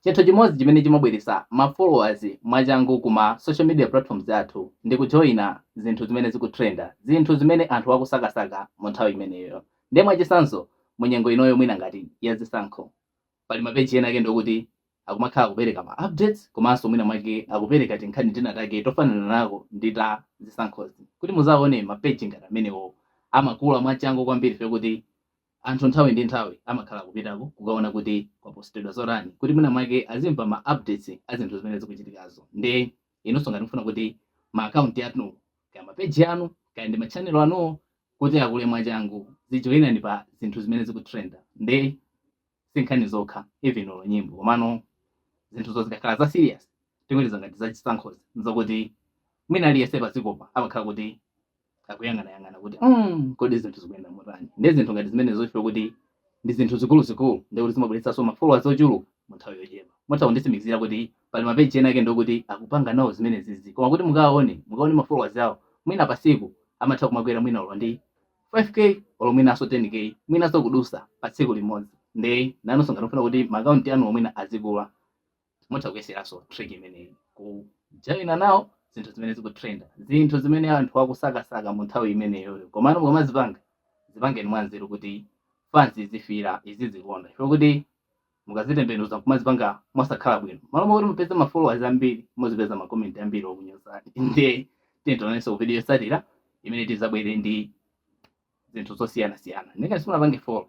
Chinthu chimodzi chimene chimabweretsa ma followers mwachangu ku ma social media platforms athu ndi kujoina zinthu zimene zikutrenda, zinthu zimene anthu akusakasaka mu nthawi imeneyoyo. Nde mwachitsanzo mu nyengo inoyo mwina ngati ya zisankho, pali ma page ena ake ndi okuti akumakhala akupereka ma updates komanso mwina mwake akupereka tinkhani tina take tofanana nako ndi ta zisankhozi, kuti muzaone ma page ngati amenewo amakula mwachangu kwambiri chifukwa choti Anthu nthawi ndi nthawi amakhala akupitako kukaona kuti kwapostedwa zotani kuti mwina mwake azimva ma updates a zinthu zimene zikuchitikazo. Nde inunso ngati mukufuna kuti ma account anu, kaya ma page anu, kaya ndi ma channel anuwo kuti akule mwachangu, zijoinani pa zinthu zimene zikutrenda. Nde si nkhani zokha, even olo nyimbo. Komano zinthuzo zikakhala za serious, tingoti za ngati za chisankhozi, n'zokuti mwina aliyense padzikopa amakhala kuti akuyang'anayang'ana kuti mm, kodi zinthu zikuyenda motani ndi zinthu ngati zimenezo chifukwa choti ndi zinthu zikuluzikulu ndiye kuti zimabweretsanso ma followers ochuluka mu nthawi yochepa mutha kunditsimikizira kuti pali mapeji ena ake ndi okuti akupanga nawo zimenezizi koma kuti mukaone mukaone ma followers awo mwina pasiku amatha kumakwera mwina olo ndi 5k olo mwinanso 10k mwinanso kudusa pa tsiku limodzi nde inunso ngati mufuna kuti maakaunti anuwo mwina azikula mutha kuyeseranso trick imeneyi kujoina nawo zinthu zimene zikutrenda zinthu zimene anthu akusakasaka mu nthawi imeneyoyo komano mukamazipanga zipangeni mwanzeru kuti fans izifira izizikonda chifukwa kuti mukazitembenuza kumazipanga mosakhala bwino malo mwakuti mupeze ma followers ambiri muzipeza ma comment ambiri okunyozani ndiye tionananso ku video yotsatira imene tizabwere ndi zinthu zosiyanasiyana nde ngati simunapange follow